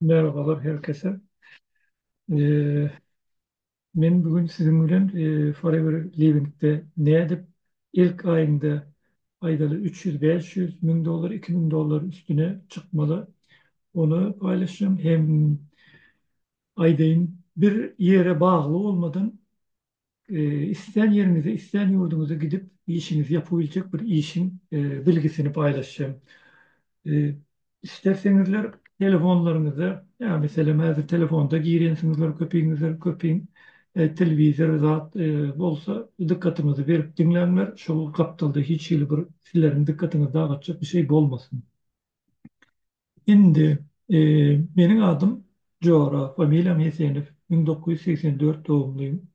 Merhabalar her kese. Men bu gün siziň bilen Forever Livingde nädip ilk aýynda aýdaly üç ýüz, bäş ýüz müň dollar, iki müň dollar üstüne çykmaly ony paýlaşjam hem aýdaýyn bir ýere bagly bolmadan Islän ýeriňize, islän ýurduňyza gidip, işiňizi ýapybiljek bir işiň bilgisini paýlaşýar. Islerseňizler telefonlaryňyza, ýa meselem häzir telefonda girýänsiňizler köpiňizler, köpiň telewizor zat bolsa dykgatyňyzy berip diňläňler, şol gapdalda hiç hili bir sizleriň dykgatyňyzy dagatjak bir şey bolmasyn. Indi Meniň adym Jora, familiýam Hesenow, müň dokuz ýüz segsen dört dogumlym.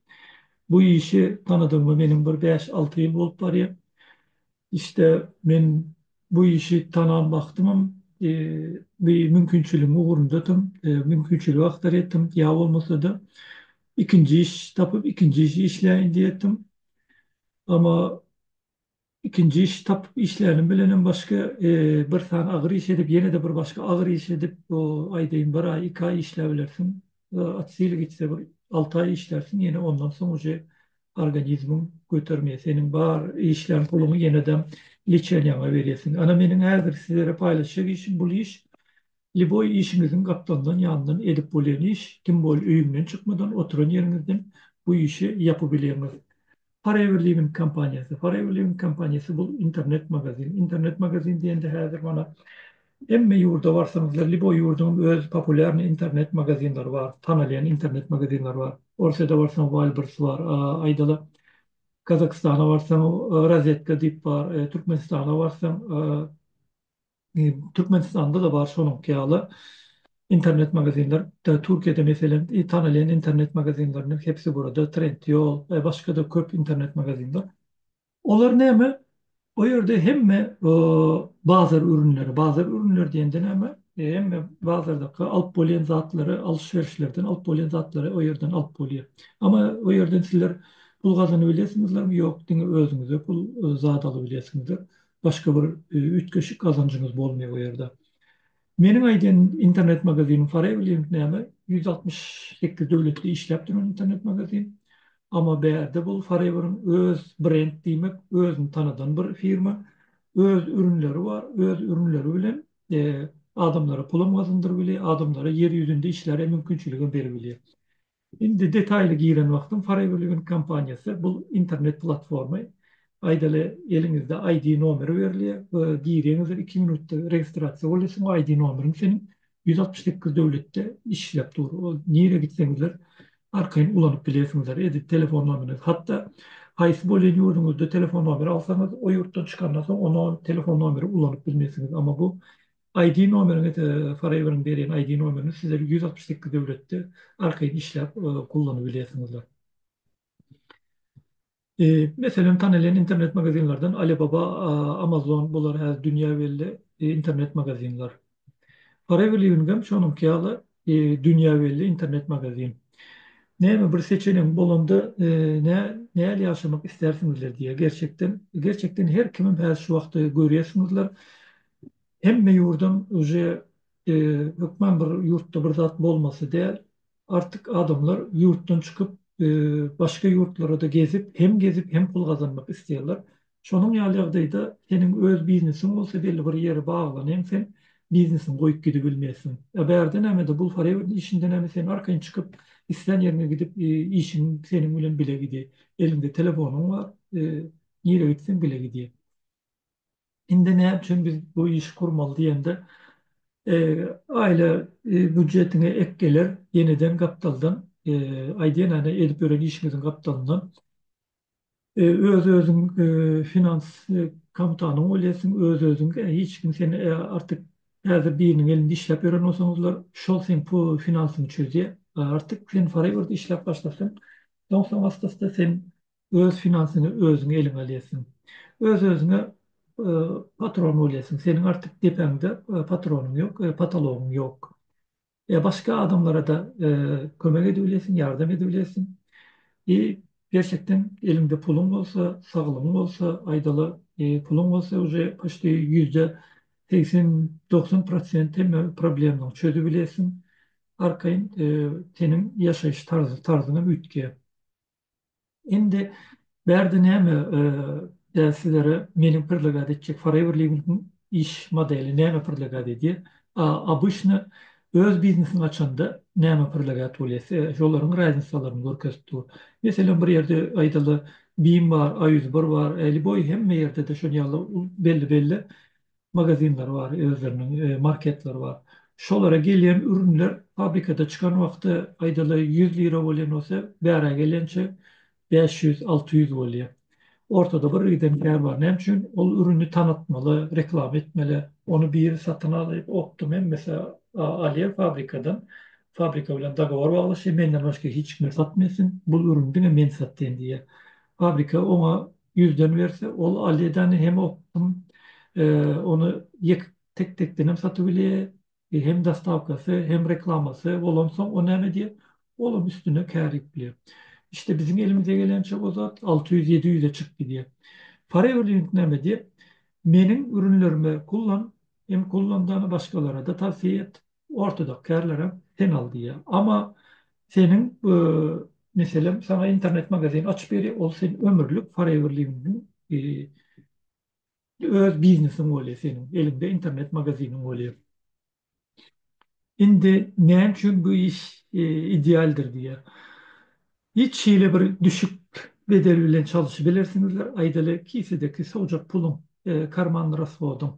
Bu işi tanadygyma meniň bir bäş-alty ýyl bolup barýar. İşde men bu işi tanan wagtymam bir mümkinçiligiň ugrundadym, mümkinçiligi agtar etdim. Ýa bolmasa-da ikinji iş tapyp, ikinji işi işläýin diýerdim. Amma Ikinji iş tapyp işlänim bilenem başga bir sany agyr iş edip ýene-de bir başga agyr iş edip bu aýdaýyn bir aý iki aý işläbilersiň. At sil gitse bir alty aý işlärsiň ýene ondan soň uje organizmiň götermeýär seniň bar işlän puluňy ýenedem liçeniýaňa berýärsiň. Ana meniň häzir sizlere paýlaşjak işim bul iş Liboý işiňiziň gapdaldan ýandan edip bolýan iş kim bol öýüňden çykmadan oturan ýeriňizden bu işi ýapybilýäňiz. Forever Living kompaniýasy Forever Living kompaniýasy bul internet magazin internet magazin diýende häzir mana hemme ýurda barsaňyzlar liboý ýurduň öz populýarny internet magazinleri bar tanalýan internet magazinleri bar Orsýada barsaň Walbers bar aýdaly Gazagystana barsaň Rozetka diýip bar Türkmenistana barsaň Türkmenistanda-da bar şonuňky ýaly internet magazinler. Türkiýede meselem tanalýan internet magazinleriniň hepsi burada, Trendyol we başga-da köp internet magazinler. Olar näme? O ýerde hemme bazar ürünleri, bazar ürünleri diýende näme? Hemme bazardaky alyp bolýan zatlary, alşyberişlerden alyp bolýan zatlary o ýerden alyp bolýar. Amma o ýerden sizler pul gazanyp bilesiňizlermi? Ýok, diňe özüňize pul zat alyp bilesiňizler. başga bir üýtgeşik gazanjyňyz bolmaýar o ýerde. Meniň aýdan internet magazinim Farewilliant näme? Ýüz altmyş sekiz döwletde işläp duran internet magazin. Amma bärde bul Farewiliň öz brend diýmek, özüni tanadan bir firma. Öz ürünleri bar, öz ürünleri bilen adamlara pulam gazandyryp bilýär, adamlara ýer ýüzünde işläre mümkinçiligem berip bilýär. Indi detaýly giren wagtym Foreverliving kompaniýasy bul internet platforma aýdaly eliňizde ID nomeri berilýär we girýäňizdir iki minutda registrasiýa bolýarsyň we ID nomeriň seniň ýüz altmyş sekiz döwletde işläp dur ol nirä gitseňizler arkaýyn ulanyp bilersiňizler edil telefon nomeriniz hatda haýsy bolýan ýurduňyzda telefon nomeri alsaňyz o ýurtdan çykandan soň onol telefon nomeri ulanyp bilmersiňiz amma bu ID nomeriňiz Forever-iň berýän ID nomerini siz ýüz altmyş sekiz döwletde arkaýyn işläp gullanyp bilýärsiňizler. Meselem, tanalýan internet magazinlerden Alibaba, Amazon bular häzir dünýä belli internet magazinler. Forever Living-em şonuňky ýaly dünýä belli internet magazin. Näme bir seçeniň bolanda näl ýaşamak istersiňizler diýýär. Gerçekden, gerçekden her kimem häzir şu wagty görýärsiňizler. Hemme ýurdam uje hökman bir ýurtda bir zat bolmasy däl. Artyk adamlar ýurtdan çykyp başga ýurtlarada gezip, hem gezip hem pul gazanmak isleýärler. Şonuň ýaly ýagdaýda seniň öz biznesiň bolsa belli bir ýere baglanyň sen biznesiňi goýup gidibilmeýsiň. A bärde nämede bul forever işinde näme sen arkaýyn çykyp islän ýeriňe gidip işiň seniň bilen bile gidýä. Eliňde telefonyň bar nirä gitseň bile gidýä. Indi näme üçin biz bu işi gurmaly diýende, aýla býujetine ek geler, ýeneden gapdaldan, aýdýan ane edip ýören işiňiziň gapdalyndan, öz-özüň finans komutagyňy bolýarsyň, öz-özüň, hiç kim sen artyk häzir biriniň elinde işläp ýören bolsaňyzlar, şol seň finansyňy çözýär. Artyk sen forever-de işläp başlasaň, soň-soň asta-asta sen Öz finansyňy özüň eliňe alýarsyň. Öz-özüňe patron bolýarsyň. Seniň artyk depäňde patronyň ýok, potologyň ýok. Başga adamlara-da kömek edip bilýärsiň, ýardam edip bilýärsiň. I gerçekden eliňde puluň bolsa, saglygyň bolsa, aýdaly, puluň bolsa uje poçti ýüzde segsen, dogsan prosent hemme problemalaryňy çözüp bilýärsiň. Arkaýyn seniň ýaşaýyş tarzyňam üýtgeýär. Indi bärde näme däl sizlere meniň predlagat etjek Forever Living-iň iş modeli näme predlagat edýär? A. Obyçny öz biznesini açanda näme predlagat bolýar size? Şolaryň raznisalaryny görkezip dur. Meselem, bir ýerde aýdaly, Bim bar, A ýüz bir bar, Äli boý hemme ýerde-de şony ýaly belli-belli magazinleri bar, özleriniň marketleri bar. Şolara gelýän ürünler fabrikada çykan wagty, aýdaly, ýüz lira bolýan bolsa, bärä gelençe bäş ýüz, alty ýüz bolýar. Ortada bir giden kär bar. Näme üçin? Ol ürüni tanatmaly, reklama etmeli. Ony biri satyn alyp, opdym hemmesi alýar fabrikadan. Fabrika bilen dogowor baglaşýar, menden başga hiç kime satmasyn, bu ürüni diňe men satýan diýýär. Fabrika oňa Ýüzden berse, ol alýedany hem okdum, ony ýek tek-tekden hem satyp bilýä, hem dostawkasy, hem reklamasy bolansoň, o näme edýä? Olam üstüne kär edip bilýä. Işte biziň elimize gelençä o zat alty ýüz, ýedi ýüze çykyp gidýä. Foreverlink näme edýä? Meniň ürünlerime kullan, hem kullandany başgalarada tawsiýe et. ortodoks kärlerem sen al diýýär. Amma seniň meselem saňa internet magazin açyp berýär, ol sen ömürlik forever living öz biznesiň bolýar seniň, eliňde internet magaziniň bolýar. Indi näme üçin bu iş idealdyr diýýär. Hiç hili bir düşük bedel bilen çalyşybilersiňizler, aýdaly kisedeki sowjak puluň, karmanny rashodyň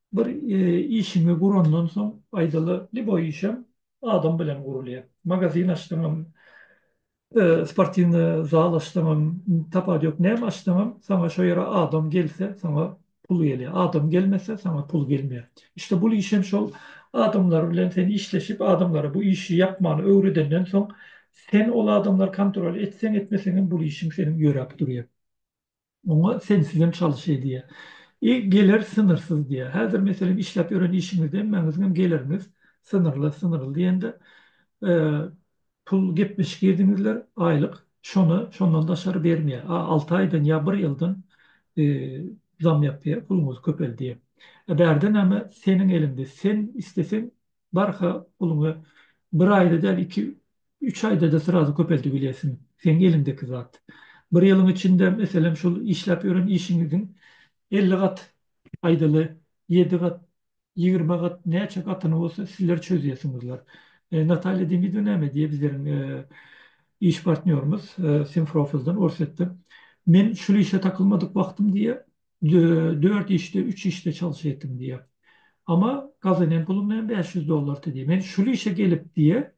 Bir işiňi gurandan soň aýdaly liboý işem adam bilen gurulýar. Magazin açsaňam, sportiwny zal açsaňam, tapat ýok näme açsaňam saňa şo ýere adam gelse saňa pul gelýär. Adam gelmese saňa pul gelmeýär. İşte bul işem şol adamlar bilen sen işleşip adamlara bu işi ýapmany öwredenden soň sen ol adamlar kontrol etseň etmeseňem bul işiň seniň ýöräp durýar. Muňa sensizem çalyş edýär. I geler synyrsyz diýýär. Häzir meselem işläp ýören işiňizde hemmäňiziňem geliriňiz synyrly, synyrly diýende pul gepleşik girdiňizler, aýlyk şony şondan daşary bermeýär. A alty aýdan ýa bir ýyldan zam ýapýar, puluňyz köpeldýär. Bärde näme, seniň eliňde, sen isleseň barha puluňy bir aýda däl iki üç aýdada srazu köpeldibilýäsiň seň eliňdeki zat bir ýylyň içinde meselem şul işläp ýören işiňiziň elli gat aýdaly ýedi gat ýigrimi gat näçe gatyny bolsa sizler çözýäsiňizler Natalýa Demidwa näme diýýä bizleriň iş partnýorymyz Simfrofldan Orsýetden men şul işe takylmadyk wagtym diýýä Dört işde, üç işde çalyş etdim diýýär. Ama gazanen pulum näme bäş ýüz dollardy diýýär. Men şul işe gelip diýýär,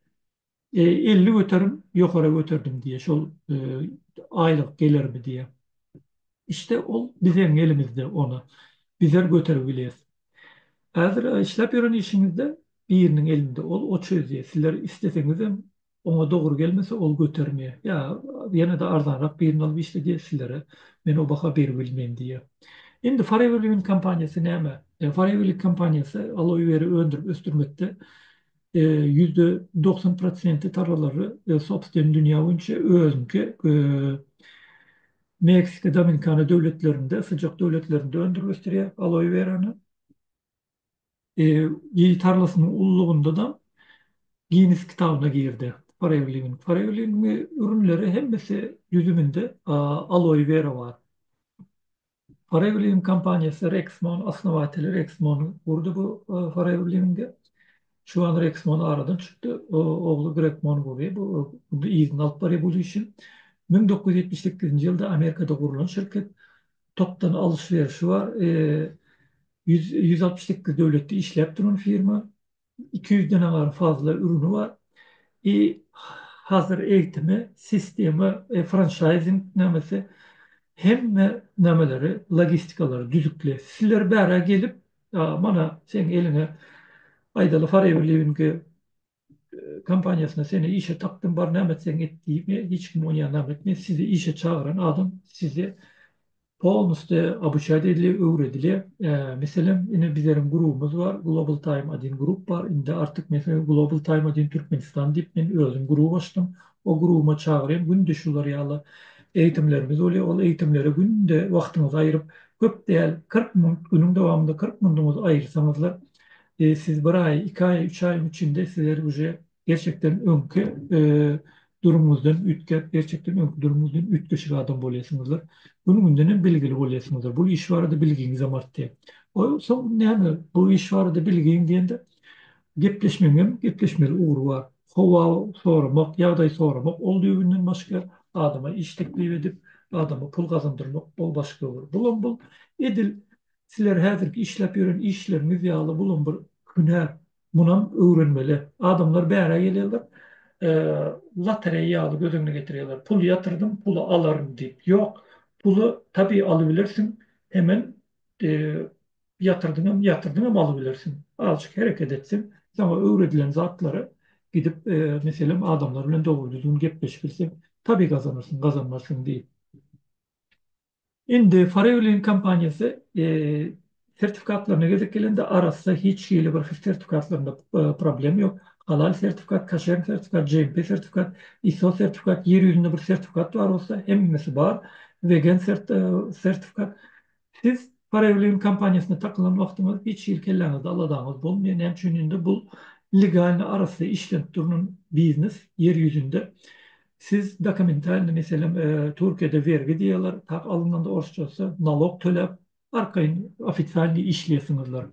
elli göterim ýokara göterdim diýýär şol aýlyk gelerimi diýýär. Işte ol bizeň elimizde ony bizler göterip bileris. Häzir işläp ýören işiňizde biriniň elinde ol o çözýär. Sizler isleseňizem Oňa dogry gelmese ol götermeýär. Ýa ýene-de arzanrak birini alyp işledýär sizlere. Men o baha beribilmeýin diýýär. Indi Foreverliving kompaniýasy näme? Foreverliving kompaniýasy aloe weri öndürip ösdürmekde ýüzde dogsan prosenti tarlalary sobstwen dünýä boýunça özüniňki Meksika, Dominikana döwletlerinde, syjak döwletlerinde öndürip ösdürýär aloe werany. Ýer tarlasynyň ullugynda-da Ginnes kitabyna girdi. Forewliwin. Forewliwiniň ürünleri hemmesi düzüminde aloe wera bar. Forewliwin kompaniýasy Rexmon osnowateli Rexmon gurdy bu forewliwinge. Şu wagt Rexmon aradan çykdy. Ogly Grekmon gurýar. Bu indi yzyna alyp barýar bu işi. Müň dokuz ýüz ýetmiş sekizinji ýylda Amerikada gurlan şirket. Topdan alyş-berişi bar. Ýüz ýüz altmyş sekiz döwletde işläp duran firma. Iki ýüzden aňar fazla ürüni bar. I hazir eýtimi sistema e franşaýzing nämesi hemme nämeleri logistikalary düzükli. Sizler bärä gelip mana seň eliňe aýdaly farewilýuingi kompaniýasyna seni işe tapdym bar näme etseň et diýme hiç kim ony ýanam etme sizi işe çagyran adam sizi polnusty abuçaýda edile öwredile meselem ine bizleriň grubymyz bar global taým adin grup bar indi artyk meselem global taým adin türkmenistan diýip men özüm grup açdym o grubuma çagyrýan günde şular ýaly eýitimlerimiz bolýa ol eýitimlere günde wagtyňyzy aýryp köp däl kyrk minut günüň dowamynda kyrk minutyňyzy aýyrsaňyzlar Ee siz bir aý iki aý üç aýyň içinde sizler uje gerçekden öňki durumyňyzdan üýtgäp gerçekden öňki durumyňyzdan üýtgeşik adam bolýasyňyzlar günü gündenem bilgili bolýasyňyzlar bul iş barada bilgiňizem artýa ol soň näme bu iş barada bilgiň diýende gepleşmegiňem gepleşmeli ugry bar howa soramak ýagdaý soramak ol düýbünden başga adama iş teklip edip adama pul gazandyrmak ol başga ugry bulam bul edil Sizler häzirki işläp ýören işleriňiz ýaly bulam bir hünär, munam öwrenmeli. Adamlar bärä gelýärler, lotereýa ýaly göz öňüne getirýärler, pul ýatyrdym, puly alaryn diýip. Ýok, puly tabi alybilersiň, hemem ýatyrdyňam, ýatyrdyňam alybilersiň. Azajyk hereket etseň, saňa öwredilen zatlara gidip, meselem, adamlar bilen dogry-düzgün gepleşibilseň, tabi gazanarsyň, gazanmarsyň diýip. Indi Farewilin kompaniýasy sertifikatlaryna gezek gelende arassa hiç hili bir sertifikatlarynda problem ýok. Halal sertifikat, kaşer sertifikat, GMP sertifikat, ISO sertifikat, ýer ýüzünde bir sertifikat bar bolsa hemmesi bar. Wegen sertifikat. Siz Farewilin kompaniýasyna takylan wagtyňyz hiç hili kelläňizde aladaňyz bolmaýar. Näme üçin indi bul legalny arassa işlenip durnan biznes ýer ýüzünde. Siz dokumentalny meselem Türkiýede wergi diýýärler tak alynanda orsçasy nalog töläp arkaýyn ofitsialnyý işleýärsiňizler.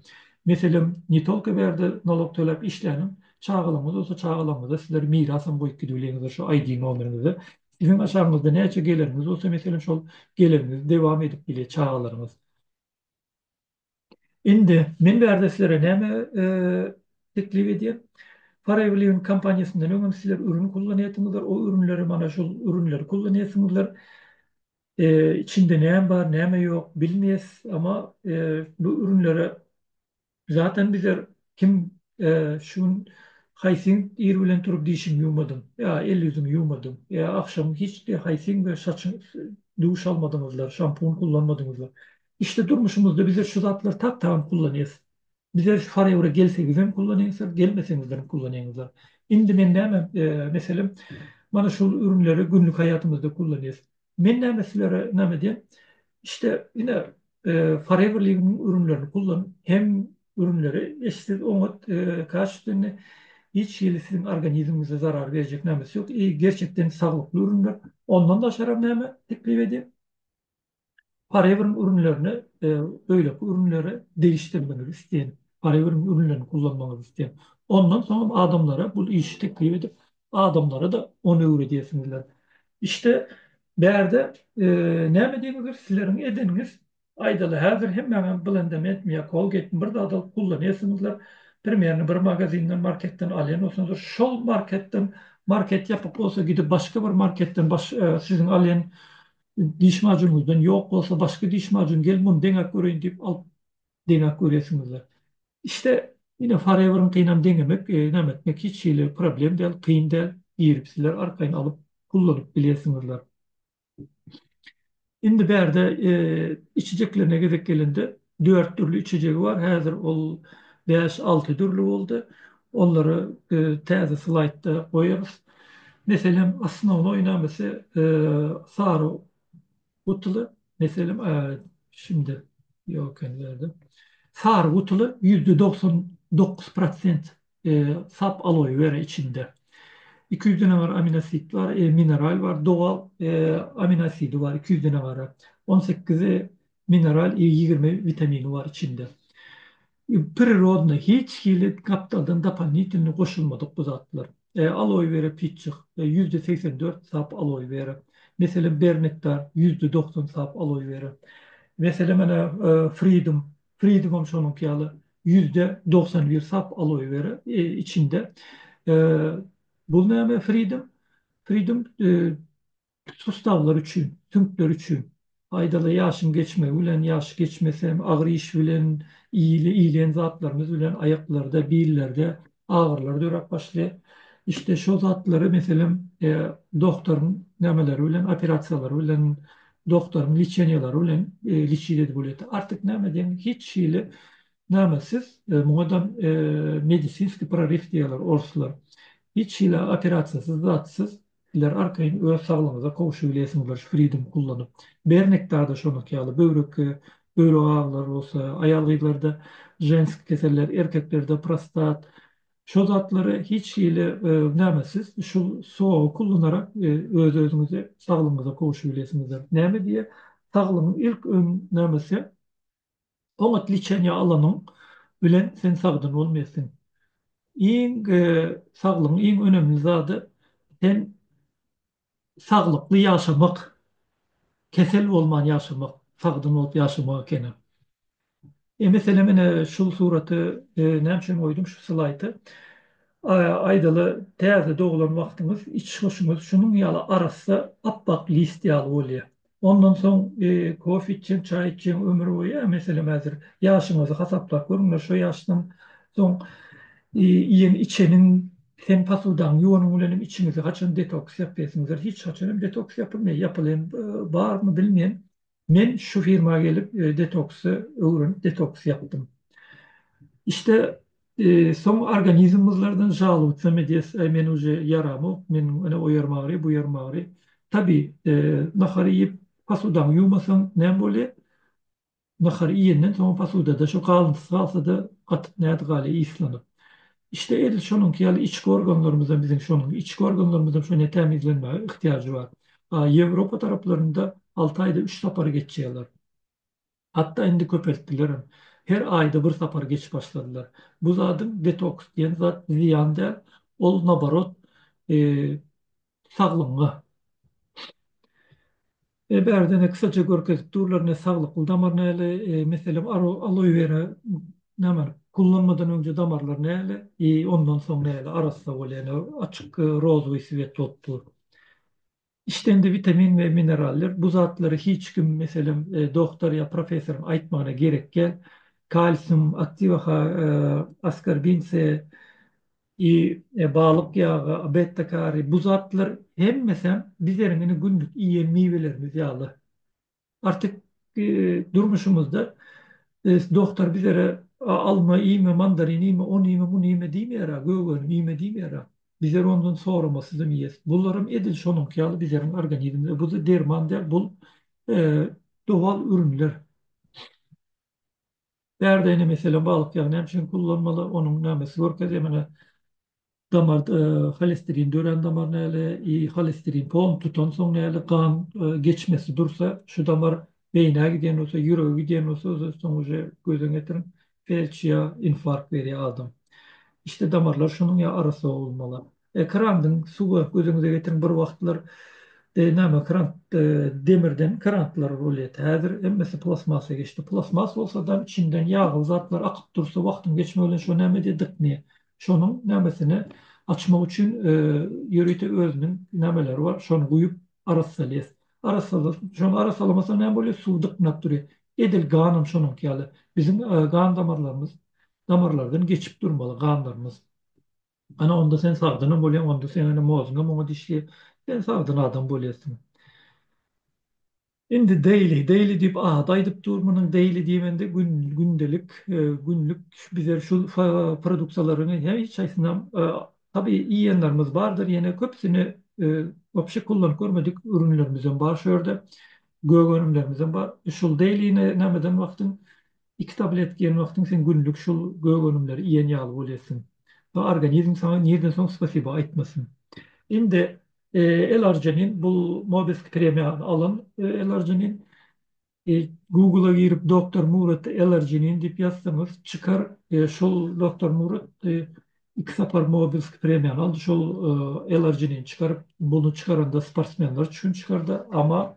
Meselem ne tolko bärde nalog töläp işläniň çagalaňyz bolsa çagalaňyza sizler miras hem goýup gidibileňizdir şu ID nomeriňizi. Siziň aşagyňyzda näçe geleniňiz bolsa meselem şol geleniňizi dewam edip bilýär çagalaryňyz. Indi men bärde sizlere näme teklip edýän? Paragliwin kompaniýasyndan öňem sizler ürün kullanýarsyňyzlar, o ürünleri mana şol ürünleri kullanýarsyňyzlar. Içinde näme bar, näme ýok bilmeýäs, emma bu ürünlere zaten bizler kim şu gün haýsyň ir bilen turup dişiňi ýuwmadyň ýa el-ýüzüňi ýuwmadyň ýa agşam hiç haýsyň bilen saçyňy duş almadyňyzlar, şampun kullanmadyňyzlar. Işde durmuşymyzda bizler şu zatlary tap tagan kullanýas. Bizler şu farewre gelseňizem kullanýaňyzlar gelmeseňizlerem kullanýaňyzlar. Indi men näme meselem mana şul ürünleri günlük haýatymyzda kullanýas. Men näme sizlere näme edýän işte ine farewreligiň ürünlerini kullan hem ürünleri hiç siz oňat kaş indi hiç hili siziň organizmiňize zarar berjek nämesi ýok. Gerçekden saglykly ürünler. Ondan daşaram näme teklip edýän. Parewrn ürünlerine beýleki ürünleri degişdirmegi isleýän, Parewrn ürünlerini kullanmagy isleýän. Ondan soňam adamlara bul işi teklip edip, adamlara-da ony öwredýärsiňizler. Işte, bärde näme diýmekdir, sizleriň edeniňiz, aýdaly, häzir hemmäňem Blendem etmiýär, Colgate-mi bir zat alyp kullanýarsyňyzlar, primerni bir magazinden, marketden alýan bolsaňyzlar, şol marketden, market ýapyk bolsa, gidip başga bir marketden, siziň alýan Diş majunyňyzdan ýok bolsa, başga diş majun gel, muny deňäp göreýin diýip alyp deňäp görýärsiňizler. İşte ine Forever'yňkynam deňemek, näme etmek hiç hili problem däl, kyn däl. Girip sizler arkaýyn alyp kullanyp bilersiňizler. Indi bärde içijeklerine gezek gelende, Dört dürli içejegi bar, häzir ol bäş-alty dürli boldy. Olary biz täze slaýdda goýarys. Meselem, asnownoý namysy sary gutuly, meselem, şindi ýok ekeni bu ýerde. Sary gutuly ýüzde dogsan dokuz prosent sap aloe wera içinde. Iki ýüz dene bar aminoasid bar, mineral bar, doga aminoasidi bar iki ýüz dene bar. On sekizi Mineral i ýigrimi witamini bar içinde. Prirodny hiç hili gapdaldan dopalnitelny goşulmadyk bu zatlar. Aloe vera pitjik, ýüzde segsen dört sap aloe vera. Meselem bernektar, ýüzde dogsan sap aloe vera. Meselem ene fridum, fridumam şonuňky ýaly ýüzde dogsan bir sap aloe vera içinde. Bul näme fridum? Fridum Üç sussaglar üçin, süňkler üçin. Aýdaly ýaşyň geçmegi bilen, ýaşy geçmesem, agyr iş bilen, iýle iýlen zatlarymyz bilen aýaklarda, billerde agyrylar döräp başlaýar. Işte şo zatlary meselem dogtoryň nämeleri bilen, operasiýalary bilen, dogtoryň liçeniýalary bilen liçit edip bolýar. Artyk näme diýeň, hiç hili nämesiz, muňadam medisinskiý proryw diýýärler orslar. Hiç hili operasiýasyz, zatsyz Siler arkaýyn öz saglygyňyza gowşubilesiňiz fridum ullanyp. Bernekdada şonuňky ýaly böwrekge böwrek agylary bolsa, aýal-gyzlarda ženski keseller, erkeklerde prostat şo zatlary hiç hili näme siz şu sowagy kullanarak öz-özüňizi saglygyňyza gowşubilesiňizdir. Näme diýýär? Saglygyň ilk öň nämesi? Oňat liçeniýa alanyň bilen sen sagdyn bolmaýarsyň. Iň saglygyň iň önemli zady sen saglykly ýaşamak, kesel bolman ýaşamak, sagdyn bolup ýaşamak ekeni. E meselem ine şu suraty näme üçin goýdum şu slaýdy? Aýdaly täze doglan wagtyňyz iç hoşuňyz şunuň ýaly arassa apbak list ýaly bolýar. Ondan soň kofe içjeň, çaý içjeň, ömür boýy a meselem häzir ýaşyňyzy hasaplap görüňler, şo ýaşdan soň iýen içeniň hem posudaňy ýuwanyň bilen hem içiňizi haçan detoks ýapysiňizdir, hiç haçan hem detoks ýapylmaýar, ýapylan barmy bilmeýän. Men şu firma gelip detoksy öwrenip detoks ýapdym. İşte Soň organizm gyzlardan žalowtsa medes, Äý, men uje ýaramok, men ene o ýerim agyry, bu ýerim agyry. Tabi, nahar iýip, posudaňy ýuwmasaň näme bolýa? Nahar iýenden soň posudada şo galyntysy galsa-da, gatyp nädi galýa yslanyp. Işte edil şonuňky ýaly içki organlarymyzam biziň şonuň içki organlarymyzam şonýa tämizlenmäge yhtiýajy bar. A Ýewropa taraplarynda alty aýda üç sapar geçýärler. Hatda indi köpeltdilerem. Her aýda bir sapar geçip başladylar. Bu zadyň detoks diýen zat zyýan däl, ol naborot saglygyňa. E bärde ene kysaja görkezip durlar ene saglykly damar näle, meselem aloewera näme kullanmadan öňje damarlar näle i ondan soň näle arassa bolýar ene açyk rozowý swet bolup dur. Işdende witamin we mineraller, bu zatlary hiç kim, meselem, dogtar ýa professoryň aýtmagyna gerek ýal, kalsium, aktiwa ha, askorbin se, i, balyk ýagy, betta kari, bu zatlar hemmesem bizeriň indi günlük iýen miwelerimiz ýaly. Artyk durmuşymyzda dogtar bizlere alma iýme, mandarin iýme, ony iýme, muny iýme diýmeýär-ä, gögönümi iýme diýmeýär-ä. Bizler ondan soramasyzam iýes. Bularam edil şonuňky ýaly bizleriň organizmimize, bu-da derman däl, bul dowal ürünler. Bärde ine meselem balyk ýagy näme üçin gullanmaly, onuň nämesi görkezýär menä damar holesterin dörän damar näle i holesterin pon tutansoň näle gan geçmesi dursa şu damar beýnä gidýän bolsa ýürege gidýän bolsa soň uje gözüň ýetiriň felç ýa infarkt berýär adam işte damarlar şunuň ýa arassa bolmaly. Krandyň suwa gözüňize getiriň bir wagtlar näme krant demirden krantlar bolýardy häzir hemmesi plastmasa geçdi plastmas bolsadam içinden ýagly zatlar akyp dursa wagtyň geçmegi bilen şo näme edýär dyknyýa şonuň nämesini açmak üçin ýörite özüniň nämeleri bar şony guýup arassalýas arassala şony arassalamasa näme bolýar suw dyknap durýar edil ganam şonuňky ýaly biziň gan damarlarymyz damarlardan geçip durmaly ganlarymyz. Ana onda sen sagdynam bolýaň, onda seňňe mozňam oňa dişli, sen sagdyn adam bolýarsyň. Indi daily, daily diýip ady aýdyp dur, munuň daily diýmende gün, gündelik, günlük bize şu produksiýalaryň hiç haýsynam tabii iýenlerimiz bardyr, ýene köpüsini wapşe kullanyp görmedik ürünlerimizem bar şu ýerde, gök önümlerimizem bar. Şul daily-ni nämeden wagtyň Iki tabletka iýen wagtyň sen günlük şul gök önümleri iýen ýaly bolýarsyň we organizm saňa nirden soň spasiba aýtmasyn. Indi L-arginin bul Mobesk premiýany alan L-arginin. Google-a girip Doktor Murat L-arginin diýip ýazsaňyz çykar. Şol Doktor Murat iki sapar Mobesk premiýany aldy. Şol L-arginin çykaryp, muny çykaranda sportsmenler üçin çykardy. Ama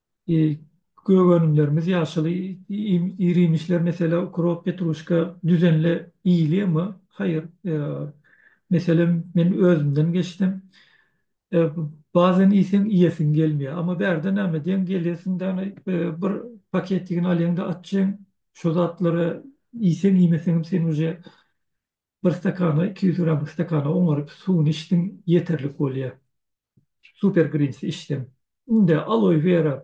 Gök önümlerimiz ýaşyl ir-iýmişler meselem ukrop, petruşka düzenli iýilýärmi? Haýyr. Meselem men özümden geçsem bazan iýseň iýesiň gelmeýär. Amma bärde näme diýeň gelýärsiň däne bir paketigini alýaňda atjyň şo zatlary iýseň iýmeseňem sen uje Bir stakana, iki ýüz gramlyk stakana oňaryp suwuny içdiň, ýeterlik bolýar. Super Greens içseň. Indi aloe vera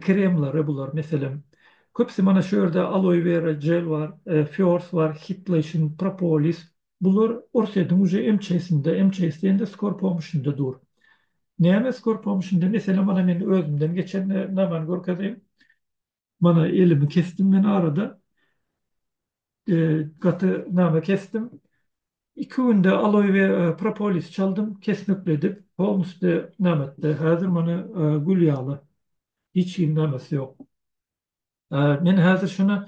kremleri bular, meselem, köpüsi mana şu ýerde aloe vera gel bar, Fiors bar, Hitlation, Propolis. Bular Orsediň uje MÇS-inde, MÇS diýende Skor Pomuşynda dur. Näme Skor Pomuşynda? Meselem, ana men özümden geçen namany görkezeýin. Mana elimi kesdim men arada. Gaty name kesdim. Iki günde aloe we propolis çaldym, kesmekledik. Polnusde name etdi. Häzir mana gül ýaly. Hiç kim namesi ýok. Men häzir şuna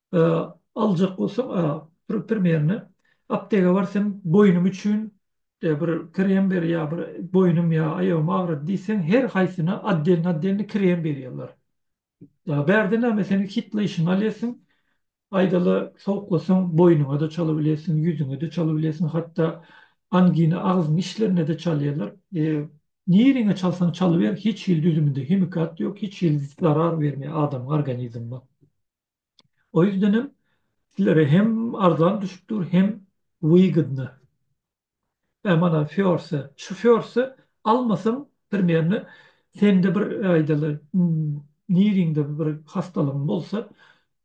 aljak bolsaň bir primerno aptega bar sen boýnuň üçin bir krem ber ýa bir boýnum ýa aýagym agrady diýseň her haýsyna otdelni otdelni krem berýärler bärde näme sen hitleýşiňi alýarsyň aýdaly sowuklasaň boýnuňada çala bilersiň ýüzüňede çala bilersiň hatda angina agzyň içlerindede çalýarlar nirene çalsaň çalyber hiç hili düzüminde himikat ýok hiç hili zarar bermeýär adamyň organizmine. O ýüzden hem sizlere hem arzan düşüp dur, hem wygydna. Ä mana Fiorsa, şu Fiorsa almasam primerne sende bir aýdaly niriňde bir hastalygyň bolsa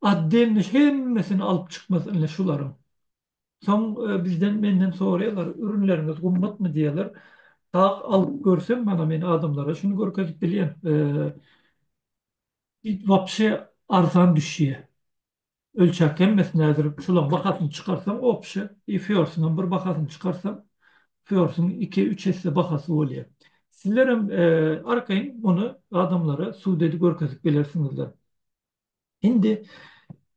otdelni hemmesini alyp çykmaz ine şularyň. Soň bizden menden soraýarlar ürünleriňiz gymmatmy diýýärler. Sag alyp görsem mana men adamlara şuny görkezip bilýän. It wapşe arzan düşýä. Ölçäp hemmesi nädir şulaň bahasyny çykarsaň opşe i fiorsuňam bir bahasyny çykarsaň fiorsuň iki üç esse bahasy bolýa. Sizlerem arkaýyn muny adamlara sudedi görkezip bilersiňizler. Indi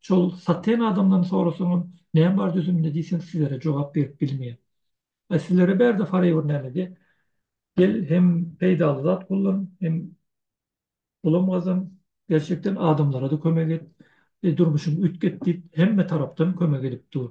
Şol saten adamdan sorasaňam näme bar düzüminde diýseň sizlere jogap berip bilmeýär. A sizlere bärde forever nämede? Gel hem peýdaly zat gullan hem pulam gazan gerçekden adamlarada kömek et durmuşyňy üýtget diýip hemme tarapdan kömek edip dur.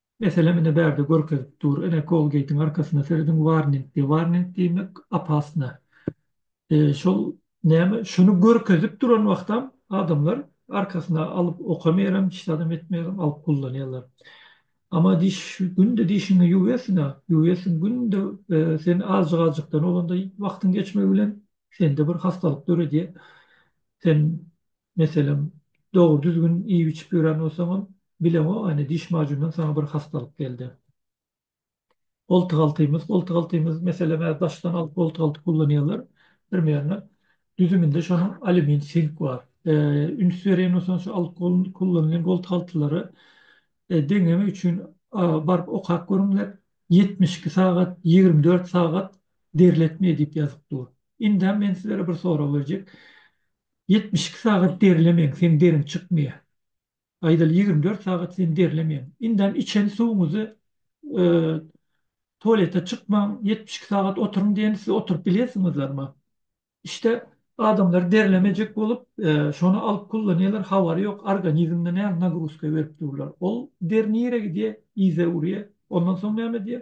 Meselem ine bärde görkezip dur ine kolgeýtiň arkasyna serediň warning diýýär warning diýmek opasna şol näme şuny görkezip duran wagtam adamlar arkasyna alyp okamerem hiç zadam etmerem alyp kullanýarlar ama diş günde dişiňi ýuwersiňa ýuwersiň günde sen azjyk azjykdan bolanda wagtyň geçmegi bilen sende bir hassalyk döredýär sen Meselem, dogry-düzgün iýip-içip ýören bolsaňam, bileňogany diş majunyndan saňa bir hassalyk geldi. Goltugaltymyz, goltugaltymyz, meselem, daşdan alyp goltugalty kullanýarlar, primerne, düzüminde şonuň alýumin, sink bar. Üns berýän bolsaňyz, şu alyp kullanylýan goltugaltylary deňemek üçin baryp okap görüňler, ýetmiş iki sagat, ýigrimi dört sagat derletmeýär diýip ýazyp dur. Indem men sizlere bir sorag berjek. Ýetmiş iki sagat derlemeň, seň deriň çykmaýar. Aýdaly ýigrimi dört sagat sen derlemeň. Indem içen suwuňyzy tualete çykmaň, ýetmiş iki sagat oturyň diýende siz oturyp bilýärsiňizlermi? İşte adamlar derlemejek bolup şony alyp kullanýarlar, habary ýok, organizmine näme nagruzka berip durlar. Ol der nirä gidýär? Yza urýar. Ondan soň näme edýär?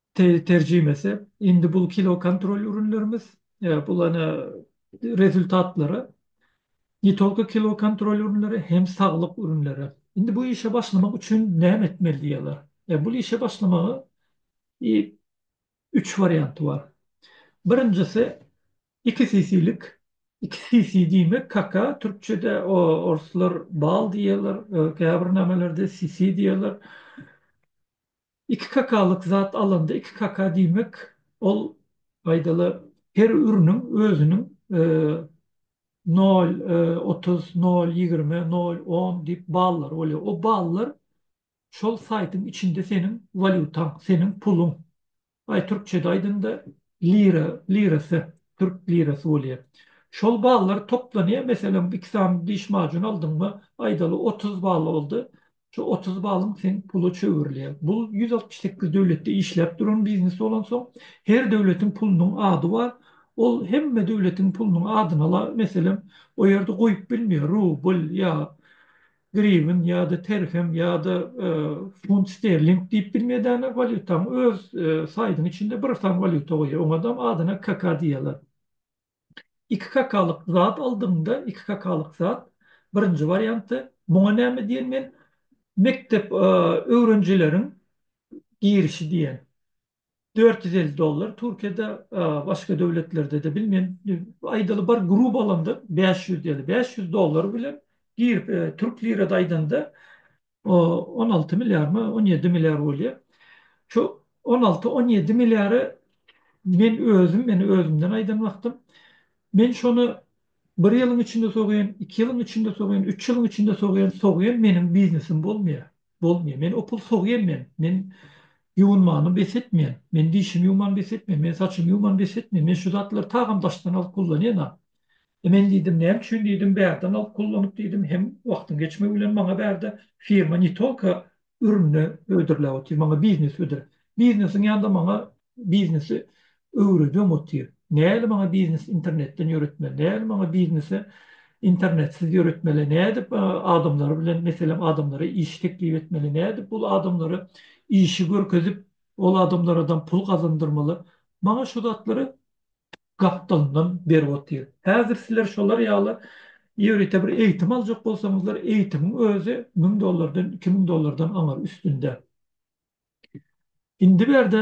Terjimesi, Indi bul kilokontrol ürünlerimiz, bul ene rezultatlary, ne tolko kilokontrol ürünleri, hem saglyk ürünleri. Indi bu işe başlamak üçin näme etmeli diýýärler. Bul işe başlamagy y üç warianty bar. Birinjisi, iki sisilik, iki sisi diýmek kaka, türkçede o orslar bal diýýärler, käbir nämelerde sisi diýýärler. Iki kakalyk zat alanda iki kaka diýmek ol aýdaly her üriniň özüniň nol otuz, nol ýigrimi, nol on diýip ballary bolýar. O ballar şol saýtyň içinde seniň walýutaň, seniň puluň. Baý türkçede aýdanda lira, lirasy, türk lirasy bolýar. Şol ballar toplanýar, meselem, iki sany diş majun aldyňmy, aýdaly, otuz bal boldy. Şu otuz balyň seň pula çöwürilýär. Bu ýüz altmyş sekiz döwletde işläp duran biznes bolansoň, her döwletiň pulunyň ady bar. Ol hemme döwletiň pulunyň adyny ala, meselem, o ýerde goýup bilmeýär, rubl ýa Griwen ýa-da terhem ýa-da funt sterling diýip bilmedäne walýutaň öz saýdyň içinde bir san walýuta goýýar. Oňadam adyna KK diýýärler. Iki KK-lyk zat aldyňda, iki KK-lyk zat, birinji warianty, muňa näme diýen men, mekdep öwrenjileriň girişi diýen. Dört ýüz elli dollar Türkiýede başga döwletlerdede bilmen aýdaly bir grup alanda bäş ýüz ýaly bäş ýüz dollar bilen girip türk lirada aýdanda on alty milliarmy on ýedi milliar bolýa şu on alty on ýedi milliary men özüm men özümden aýdan wagtym men şony bir ýylyň içinde sogýan iki ýylyň içinde sogýan üç ýylyň içinde sogýan sogýan meniň biznesim bolmaýa. Bolmýar. Men opul sogýan men. Men ýuwunmany bes etmeýän. Men dişimi ýuwman bes etmeýän. Men saçymy ýuwman bes etmeýän. Men şu zatlary tagam daşdan alyp kullanýan-a. E men diýdim, näme üçin diýdim, bärden alyp kullanyp diýdim. Hem wagtyň geçmegi bilen maňa bärde firma ne tolko ürünini hödürläp otyr, maňa biznes hödür. Biznesiň ýanynda maňa Biznesi öwredem otyr. Nädip maňa biznesi internetden ýöretmeli? Nädip maňa biznesi internetsiz ýöretmeli? Nädip adamlar bilen, meselem, adamlara iş teklip etmeli? Nädip ol adamlara işi görkezip, ol adamlaradam pul gazandyrmaly? Maňa şu zatlary gapdalyndan berip otyr. Häzir sizler şolar ýaly ýörite bir eýitim aljak bolsaňyzlar, eýitimiň özi müň dollardan, iki müň dollardan aňyr üstünde. Indi bärde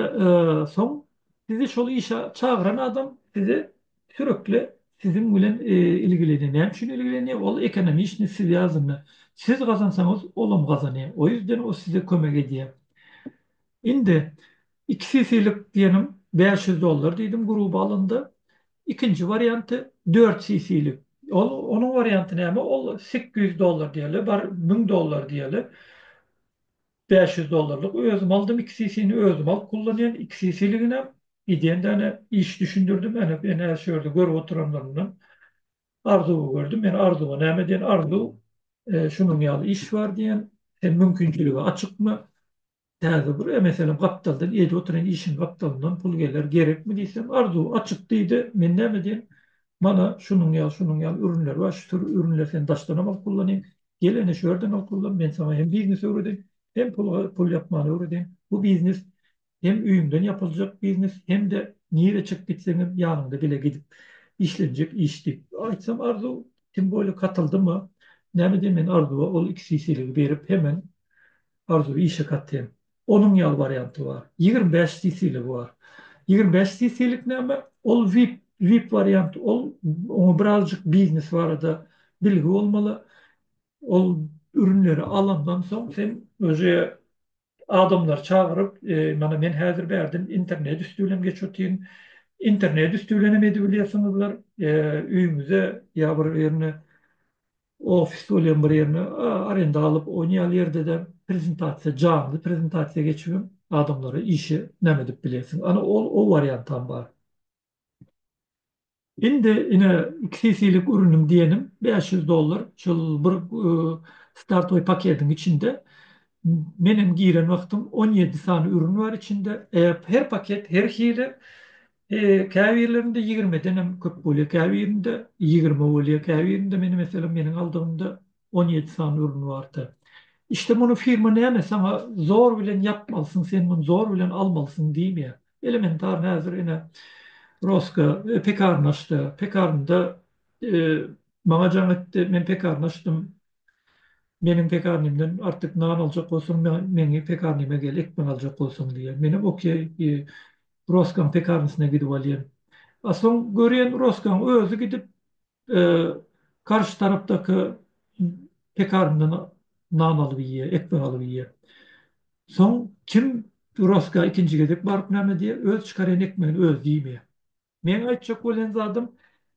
soň sizi şol işe çagyran adam size sürekli siziň bilen ilgilenýär. Näme üçin ilgilenýär? Ol ekonomi işini siz ýazdyňda. Siz gazansaňyz olam gazanýar. O ýüzden o size kömek edýär. Indi iki sisilik diýenim bäş ýüz dollar diýdim gruba alanda. Ikinji warianty dört sisilik. Ol onuň warianty näme? Ol sekkiz ýüz dollar diýeli, bar müň dollar diýeli. Bäş ýüz dollarlyk özüm aldym iki sisini özüm alyp kullanýan iki sisiliginem gidýän däne iş düşündirdim ene ene şu ýerde görüp oturanlarymdan arzuwy gördüm men arzuwa näme diýen arzuw şunuň ýaly iş bar diýen sen mümkinçiligi açykmy täze bir e meselem gapdaldan edip oturan işiň gapdalyndan pul geler gerekmi diýsem arzuw açyk diýdi men näme diýen mana şunuň ýaly şunuň ýaly ürünler bar şu tür ürünleri sen daşdanam alyp kullanýan Gel ene şu ýerden okluglan, men saňa hem biznes öwredeýin, hem pul pul ýapmany öwredeýin. Bu biznes hem öýüňden ýapyljak biznes, hem-de nirä çykyp gitseňem ýanyňda bile gidip işlenjek iş diýip. Aýtsam Arzuw tim bolýa katyldyma, näme diýen men Arzuwa ol iki sisili berip hemen Arzuwy işe katýan. Onuň ýaly warianty bar. Ýigrimi bäş CC-ligi bar. Ýigrimi bäş CC-lik näme? Ol vip, vip warianty. Ol oňa birazjyk biznes barada bilgi bolmaly. Ol ürünleri alandan soň sen özi adamlary çagyryp, mana men häzir bärden internet üsti bilen geçip otyryn. Internet üsti bilen hem edibilýärsiňizler. Öýüňize ýa bir ýerine Ofis bolýan bir ýerine arenda alyp oýnaýaly ýerde-de prezentasiýa janly prezentasiýa geçibem adamlara işe näme edip bilersiň. Ana ol o wariantam bar. Indi ine iki cc'lik urunyň diýenim bäş ýüz dollar şol bir startowy pakediň içinde menem giren wagtym on ýedi sany urun bar içinde. Her paket her hili Käbirlerinde ýigrimeden hem köp bolýar, käbirinde ýigrimi bolýar, käbirinde meni meselem meniň aldygymda on ýedi sany ürün bardy. İşde muny firma näme saňa zor bilen ýapmalysyň, sen muny zor bilen almalysyň diýmeýär. Elementarny häzir ine Roska pekarny açdy. Pekarynda maňa jaň etdi, men pekarny açdym. Meniň pekarnymdan artyk nan aljak bolsaň, meniň pekarnyma gel, ekmek aljak bolsaň diýýär. Menem okey, Roskaň pekarnysyna gidip alýan. A soň görýän Roskaň özi gidip garşy tarapdaky pekarndan nan alyp iýýär, ekmek alyp iýýär. Soň kim Roska ikinji gezek baryp näme diýýär, öz çykarýan ekmegini özi diýmeýär. Meň aýtjak bolýan zadym,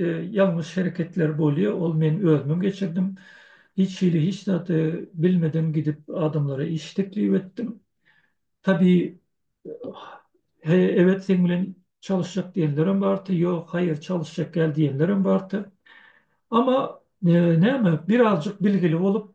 Ýalňyş hereketler bolýa ol men özümem geçirdim. Hiç hili hiç zady bilmeden gidip adamlara iş teklip etdim. Tabi he evet seň bilen çalyşjak diýenlerem barty ýok haýyr çalyşjak däl diýenlerem barty. Ama näme birazjyk bilgili bolup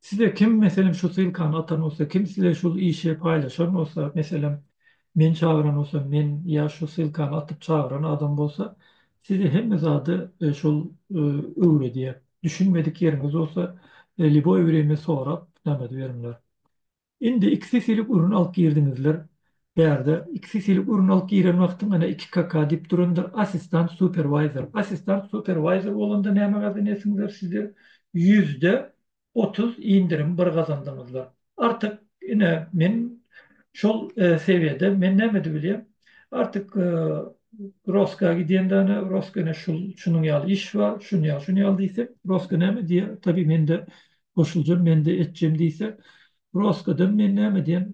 Size kim meselem şu ssylkany atan bolsa, kim size şul işe paýlaşan bolsa, meselem, men çagyran bolsam, men ýa şu ssylkany atyp çagyran adam bolsa, size hemme zady şol öwredýär. Düşünmedik ýeriňiz bolsa, liboý birimi sorap, namaz beriňler. Indi ikisi silik urun alyp girdiňizler bärde ikisi silik urun alyp giren wagtyň ana iki kaka dip durandyr assistant superwayzer assistant superwayzer bolanda näme gazan etiňizler sizler ýüzde otuz indirim bir gazandyňyzlar artyk ine men şol sewiýede men näme edip bilýän artyk roska gidýän dana roska ine şul şunuň ýaly iş bar şuny ýaly şuny ýaly diýsek roska näme diýer tabi mende goşulja mende etjem diýse broskadan men näme diýen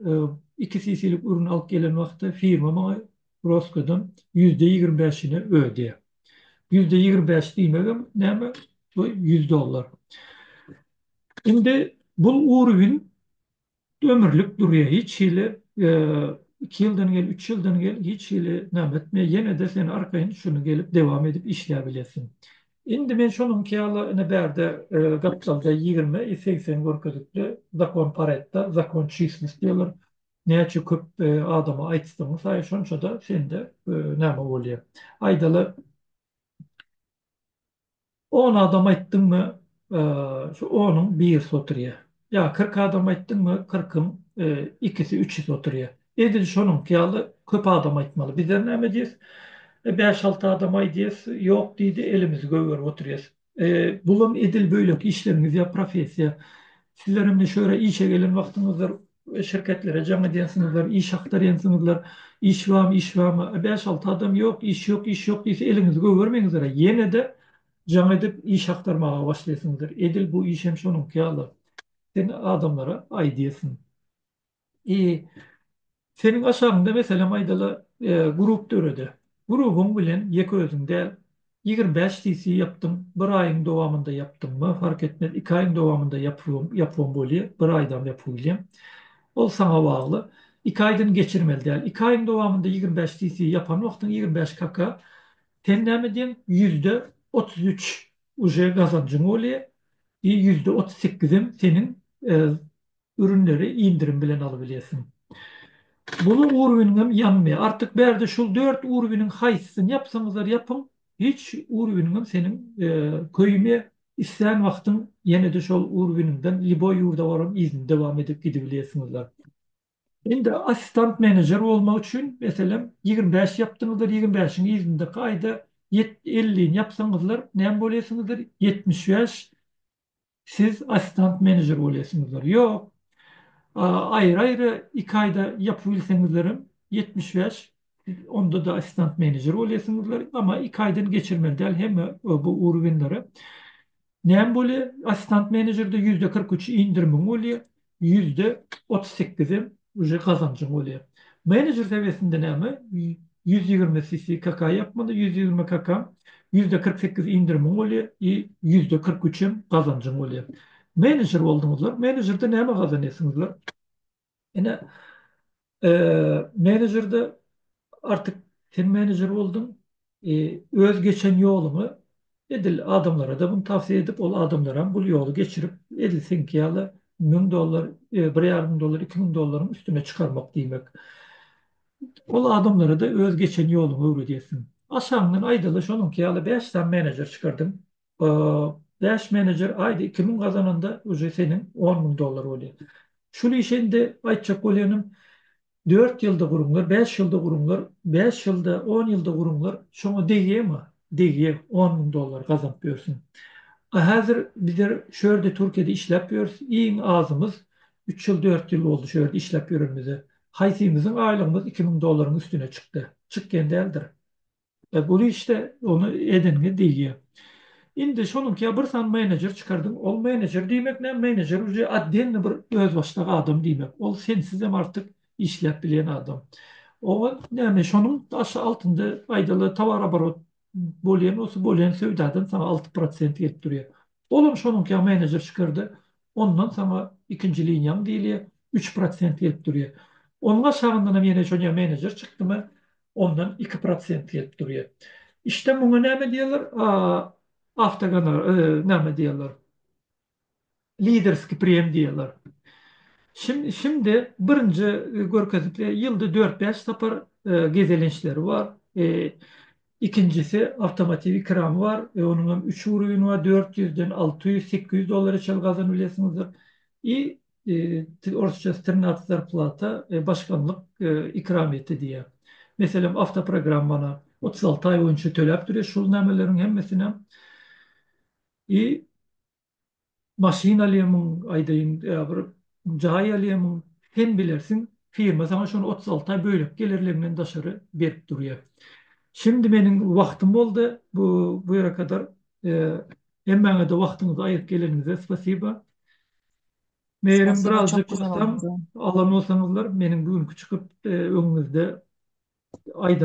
iki sisilik ürün alyp gelen wagty firma maňa broskadan ýüzde ýigrimi bäşini öde diýýär ýüzde ýigrimi bäş diýmegem näme bu ýüz dollar indi bul urwin Ömürlik durýa hiç hili iki ýyldan gel üç ýyldan gel hiç hili name etme ýenede sen arkaýyn şuny gelip dewam edip işläp bilesin. Indi men şonuňky ýaly ine bärde gapdalda ýigrimi i segsen görkezipdi zakon paretda zakon çislis diýerler näçe köp adama aýtsaň saýy şonçada sende name bolýa aýdaly On adam aýtdyňmy, şu onuň birisi oturýar. Ýa kyrk adam aýtdyňmy, kyrkyň ikisi, üçüsi oturýar. Edil şonuňky ýaly köp adam aýtmaly. Bizler näme diýýäs? Bäş-alty adam aýdýas, ýok diýdi, elimizi gögerip oturýas. Bulam edil beýleki işleriňiz ýa professiýa. Sizler indi şu ýere işe gelen wagtyňyzdyr, Şirketlere jaň edýänsiňizler, iş aktarýansyňyzlar, iş bamy, iş bamy, a bäş-alty adam ýok, iş ýok, iş ýok diýse eliňizi gögermeýiňizler-ä, ýene-de jaň edip iş aktarmaga başlaýsyňyzlar. Edil bu iş hem şonuňky ýaly. Sen adamlara aýdýarsyň. I Seniň aşagyňda meselem aýdaly, grup dörede. Grubyň bilen ýeke özüň däl, Ýigirmi bäş cc ýapdyň bir aýyň dowamynda ýapdyňmy fark etmez iki aýyň dowamynda ýapybam ýapybam bolýa bir aýdam ýapyp bilýäň ol saňa bagly iki aýdan geçirmeli däl iki aýyň dowamynda ýigirmi bäş cc ýapan wagtyň ýigirmi bäş kaka sen näme diýeň ýüzde otuz üç uje gazanjyň bolýa i ýüzde otuz sekizem seniň Ürünleri indirim bilen alybilýärsiň. Buluň urwiniňem ýanmaýar. Artyk bärde şul dört urwiniň haýsysyny ýapsaňyzlar ýapyň, hiç urwiniňem seniň köýmýär. Islän wagtyň ýene-de şol urwiniňden liboý ýurda baram yzyny dowam edip gidibilýärsiňizler. Indi assistant menejer bolmak üçin, meselem, ýigrimi bäş ýapdyňyzlar, ýigrimi bäşiň yzyndaky aýda ýet ellini ýapsaňyzlar näme bolýarsyňyzlar? Ýetmiş bäş siz assistant menejer bolýarsyňyzlar. Ýok, aýry-aýry iki aýda ýapyp bilseňizlerem ýetmiş bäş, onda-da assistant menejer bolýarsyňyzlar, emma iki aýdan geçirmeli däl hemme bu urugenleri. Näme bolýar? Assistant menejerde ýüzde kyrk üç indirimiň bolýar. ýüzde otuz sekizi uje gazanjyň bolýar. Menejer sewiýesinde näme ýüz ýigrimi CC kaka ýapmada ýüz ýigrimi kaka ýüzde kyrk sekiz indirimiň bolýar i ýüzde kyrk üç hem gazanjyň bolýar. Menejer bolduňyzlar, menejerde näme gazanýarsyňyzlar? Ine Menejerde artyk sen menejer bolduň. Öz geçen ýoluňy edil adamlara-da muny tawsiýe edip, ol adamlaram bul ýoly geçirip, edil seňki ýaly müň dollar, bir ýarym müň dollar, iki müň dollaryň üstüne çykarmak diýmek. Ol adamlara-da öz geçen ýoluňy öwredýärsiň. Aşagyňdan aýdaly şonuňky ýaly bäş sany menejer çykardyň. Bäş menejer aýda iki müň gazananda uje seniň on müň dollar bolýar. Şul işi indi aýtjak bolýanym dört ýylda guruňlar, bäş ýylda guruňlar, bäş ýylda, on ýylda guruňlar, şoňa degýämi? Degýär, on müň dollar gazanyp ýörsün. A häzir bizler şu ýerde Türkiýede işläp ýörüs, iň azymyz üç ýyl, dört ýyl boldy şu ýerde işläp ýörenimize. Haýsymyzyň aýlygymyz iki müň dollaryň üstüne çykdy? Çykýan däldir. E, bu işde ony edingi diýýär. Indi şonuňka bir sany menejer çykardyň. Ol menejer diýmek näme? Menejer uje otdelny bir özbaşdak adam diýmek. Ol sensiz hem artyk işläp bilýän adam. Oňa näme, şonuň aşa altynda aýdaly towaraborot bolýan bolsa, bolýan söwdadan saňa alty prosent gelip durýar. Ol hem şonuňka menejer çykardy. Ondan saňa ikinji liniýaň diýilýär, üç prosent gelip durýar. Onuň aşagyndan hem ýene şonýa menejer çykdymy, ondan iki prosent gelip durýar. İşte muňa näme diýerler? Awtogonorar, näme diýerler? Liderskiý priýem diýerler. Şindi birinji görkezip, ýylda dört-bäş sapar gezelençleri bar. Ikinjisi awtomotiw ikramy bar. Onuň hem üç urugny bar, dört ýüzden alty ýüz, sekiz ýüz dollara çenli gazanyp bilersiňizdir. Orsça trinact zarplata, başganlyk ikramiýeti diýýär. Meselem, awtoprogrammana otuz alty aý boýunça töläp durýar şol nämeleriň hemmesinem. I maşyn alýamyň, aýdaýyn, ýa bir jaý alýamyň, sen bilersiň, firma saňa şony otuz alty aý bölek gelirliginden daşary berip durýar. Şimdi meniň wagtym boldy, bu bu ýere kadar. Hemmäňe-de wagtyňyzy aýyryp geleniňize spasiba. Meýerim birazjyk gysdam alan bolsaňyzlar meniň bu günki çykyp öňüňizde aýdan